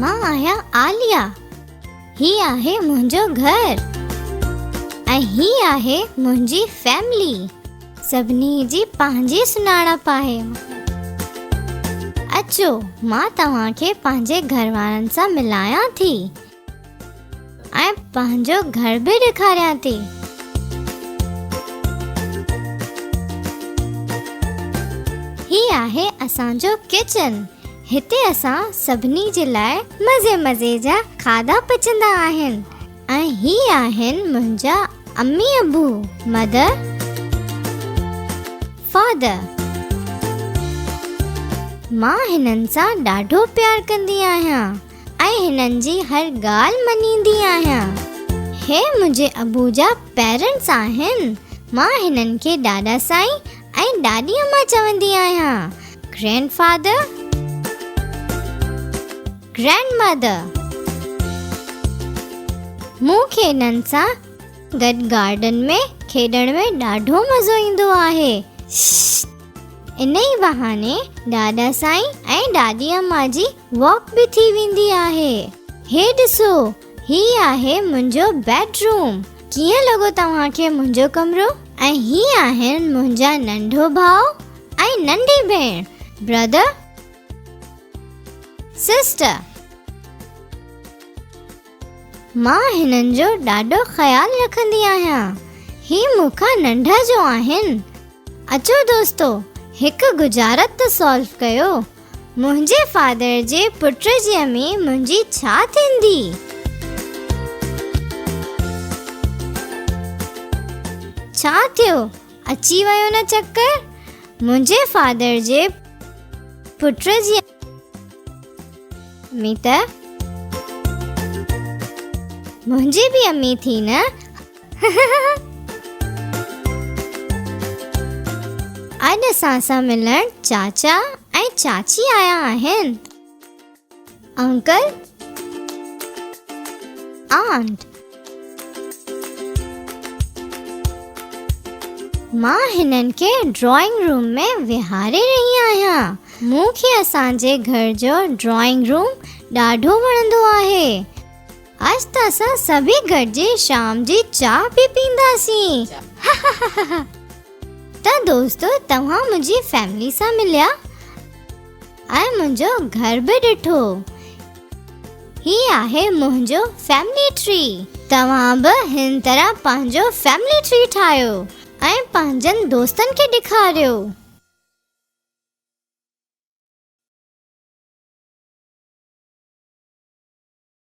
مان آهيان عاليه هي آهي منهنجو گهر ۽ هي آهي منهنجي فيملي سڀني جي پنهنجي سڃاڻپ آهي اچو مان توهان کي پنهنجي گهر وارن سان ملايان ٿي ۽ پنهنجو گهر به ڏيکاريان ٿي. هي آهي اسان جو ڪچن. هتي اسان سڀني جي لاء مزي مزي جا کاڌا پچندا آهن ۽ هي آهن منهنجا امي ابو، Mother، Father. مان هنن سان ڏاڍو پيار ڪندي آهيان. ۽ هنن جي هر ڳالهه مڃيندي آهيان. هي منهنجي ابو جا پيرنٽس آهن. مان هنن کي ڏاڏا سائين ۽ ڏاڏي اما چوندي آهيان. Grand father. Grand mother. مون کي هنن سان گڏ گارڊن ۾ کيڏڻ ۾ ڏاڍو مزو ايندو آهي. ششش. انهي بهاني ڏاڏا سائين ۽ ڏاڏي اما جي. واڪ به ٿي ويندي آهي. هي ڏسو هي آهي منهنجو بيڊ روم. ڪيئن لڳو توهان کي منهنجو ڪمرو؟ ۽ هي آهن منهنجا ننڍو ڀاء ۽ ننڍي ڀيڻ، Brother Sister. مان هنن جو ڏاڍو خيال رکندي آهيان. هي مون کان ننڍا جو آهن. اچو دوستو هڪ ڳجهارت ته سالو ڪيو. منهنجي فادر جي پٽ جي امي منهنجي ڇا ٿيندي؟ ڇا ٿيو اچي ويو نه چڪر منهنجي فادر جي پٽ جي. امي ته منهنجي به امي ٿي نه اڄ اسان سان ملڻ چاچا ۽ چاچي آيا آهن انڪل آنٽ مان هنن کي ڊرائنگ روم ۾ ويهاري رهي آهيان. مون کي اسان جي گهر جو ڊرائنگ روم ڏاڍو وڻندو آهي. اڄ ته اسان سڀيئي گڏجي شام جي چانهه به پيئنداسين. هههههه ته دوستو توهان منهنجي فيملي سان مليا. ۽ منهنجو گهر به ڏٺو. هي آهي منهنجو فيملي ٽري. توهان به هن طرح پنهنجو فيملي ٽري ٺاهيو ۽ پنهنجن دوستن کي ڏيکاريو.